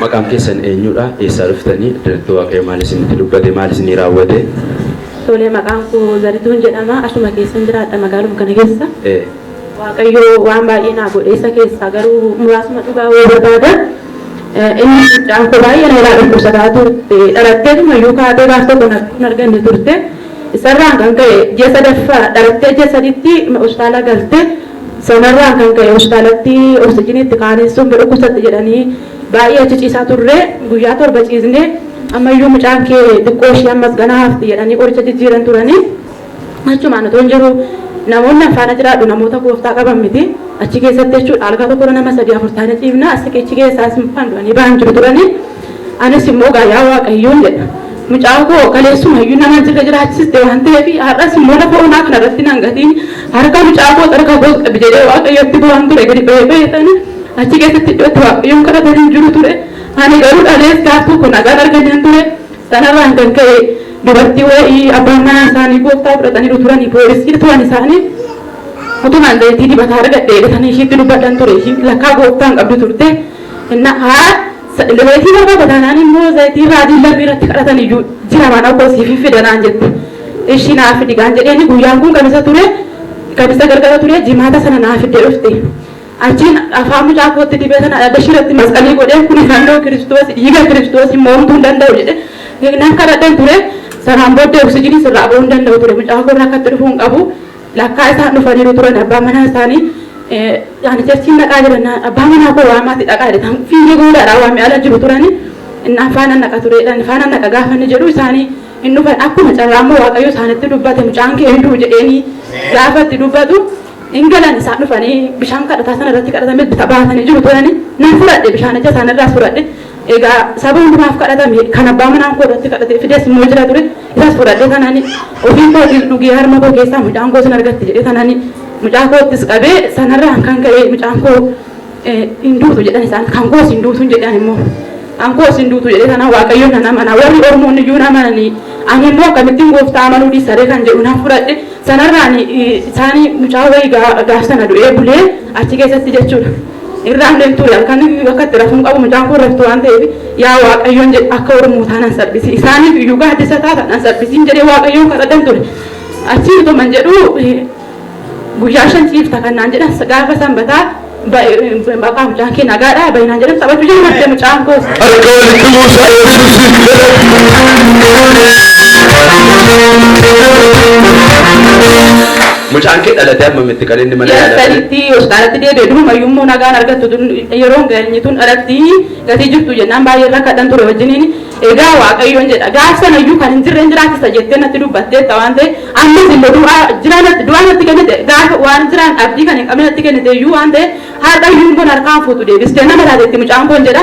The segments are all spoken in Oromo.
Maqaan keessan eenyuudha? Eessaa dhuftani? Addaratti Waaqayyo maal isinitti dubbate? Maal isinii raawwate? Tole, maqaan koo Zarituun jedhama. Asuma keessan jiraadha magaaluma kana keessa. Ee. Waaqayyo waan baay'ee naa godhe isa keessaa garuu muraasuma dhugaa wayii barbaada. Eh, Inni guddaan koo baay'ee na irraa dhukkubsataa turte. Dhalatteetuma iyyuu kaatee gaaf tokko na hin arganne turte. Isarraan kan ka'e ji'a sadaffaa dhalattee ji'a saditti hospitaala galte. Sanarraan kan ka'e hospitaalatti oksijiinii itti qaanessuun ni dhukkubsatti jedhanii baay'ee achi ciisaa turre. Guyyaa torba ciisne. Ammayyuu mucaan kee xiqqoo ishii ammas ganaa hafti jedhanii qoricha jijjiiran turanii. Achumaan otoon jiruu namoonni an faana jiraadhu namoota gooftaa qaban miti. Achi keessatti jechuudha algaa tokkorra nama sadii afur taanee ciifna. As siqiichi keessaas kan du'anii ba'an jiru turanii. Anis immoo egaa yaa Waaqayyoon jedha. Mucaa koo kaleessuma iyyuu nama jirra jiraachiste waan ta'eef har'as immoo lafa onaa kana irratti nan gatiin harka mucaa koos harka koos qabi jedhee Waaqayyotti boo'aan ture gadi ba'ee ba'ee sana achi keessatti iddoo itti Waaqayyoon kadhatan hin jiru ture. Ani garuu dhalees gaaf tokko nagaan arganneen ture sanarraan kan ka'e dubartii wayii abbaan manaa isaanii gooftaa fudhataniiru turanii poolisii turan isaanii utumaan zayitii dibataa argadhe eegatanii ishiitti dubbadhan ture ishiin lakkaa gooftaan qabdu turte. Inna haa Zayitii barbaada taanaan immoo zayitii raajiin lammi irratti kadhatan iyyuu jira mana koo siifin fida naan jette. Ishi naa fidi gaan jedheeni guyyaan kun kamisa ture kamisa galgala ture jimaata sana naa fidde dhufte. Achiin afaan mucaa kootti dibee sana adda ishii irratti masqalii godhee kuni fannoo kiristoos dhiiga kiristoos immoo homtuu hin danda'u jedhe nan kadhadheen ture. Sanaan booddee oksijinii sirraa ba'uu hin danda'u ture mucaa koo irra akkatti dhufuu hin qabu. Lakkaa isaan dhufaniiru turan abbaa manaa isaanii ani cherchiin dhaqaa jirannaan abbaa manaa koo waamaati dhaqaa jedhan fiigee goodaadhaa waame ala jiru turani innaan faana naqa tureedhaan faana naqa gaafa inni jedhu isaanii hin dhufan akkuma carraa immoo waaqayyo isaanitti dubbate mucaan kee hin du'u jedheenii gaafa itti dubbatu hin galan isaan dhufanii bishaan kadhataa sana irratti kadhatame bita baatanii jiru turani nan fudhadhe bishaanicha isaan irraas fudhadhe Egaa saba hundi naaf kadhatame, kan abbaa manaan koo irratti kadhatee fides immoo jira ture. Isas fudhadhee tanani ofii kootiin dhugee harma koo keessaa mucaan koo sin argatte jedhee tanani mucaa koottis qabee sanarraan kan ka'e mucaan koo hin duutu jedhan isaan kan koos hin duutu hin jedhan immoo kan koos hin duutu jedhee tanaan waaqayyoon nan amana warri ormoonni iyyuu nan amananii ani immoo akkamittiin gooftaa amanuu dhiisaree kan jedhu nan fudhadhe sanarraan isaanii mucaa wayii gaaf sana du'ee bulee achi keessatti jechuudha. irraan deemtu ture halkan akka itti rafuun qabu mucaan koo raftu waan ta'eef yaa waaqayyoon jedhe akka oromootaa nan salphisi isaaniif iyyuu gaaddisa taata nan salphisiin jedhee waaqayyoon kadhadhan ture achii utuman jedhu guyyaa shan ciifta kan naan jedhan gaafa sanbataa maqaa mucaan kee nagaadha baay'inaan jedhan taphachuu jalqabde mucaan koos. Harka walitti buusaa eebbisiif jedhama. Mucaan kee dhalate amma mitti kan inni mana Ji'a yaalaa galee. saditti hospitaalatti deebi'e. Durumayyuu immoo nagaan argattu tun yeroon geenye tun dhalatti gatii jirtu jennaan baay'ee rakkadhan ture wajjiniin. Egaa Waaqayyoon jedha gaaf sanayyuu kan hin jirre hin jiraachisa jettee natti dubbatteetta waan ta'e ammas immoo du'aa jiraa natti du'aa natti kennite gaafa waan jiraan abdii kan hin qabne natti kennite iyyuu waan ta'e har'ayyuu immoo harkaan fuutu deebistee nama taatetti mucaan koon jedha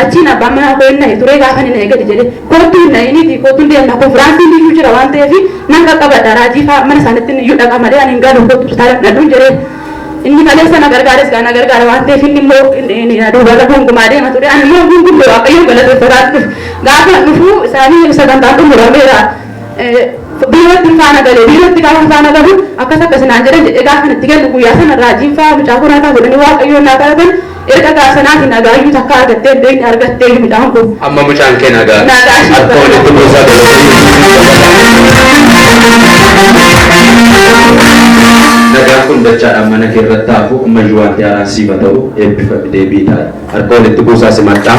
Achiin abbaan manaa koo hin nahe ture, gaafa inni nahe gadi jedhee, Kottu hin nahiniitii kottu hin deemna konfiraansiin iyyuu jira waan ta'eef nan qaqqabadha raajii fa'aa mana isaaniitti iyyuu dhaqa malee ani hin galu kottu hospitaala fudhadhuun jedheen. Inni kaleessa na gargaares gaa na gargaara waan ta'eef inni immoo duubarra gonkumaa deema ture ani immoo gungumme waaqayyoon galateeffataan dhufe. Gaafan dhufu isaanii sagantaan xumurameera biirootti hin faana galee biirootti gaafa hin faana galu akkas akkas naan jedhan jedhee gaafan itti kennu guyyaa sana raajiin fa'aa mucaa koraa fa'aa godhanii waaqayyoon naa kadhatan Erga gaasanaatii nagaayyuu takkaa argattee hin beekne argatteeyyu midhaan kun. Amma mucaan kee nagaa. Nagaa ishee Harka walitti buusaa Nagaan kun dachaadhaan mana kee irratti haa hafu ammayyuu waanti haaraan siif haa ta'u eebbifami deebi'ii taa'i. Harka walitti buusaa simadhaa.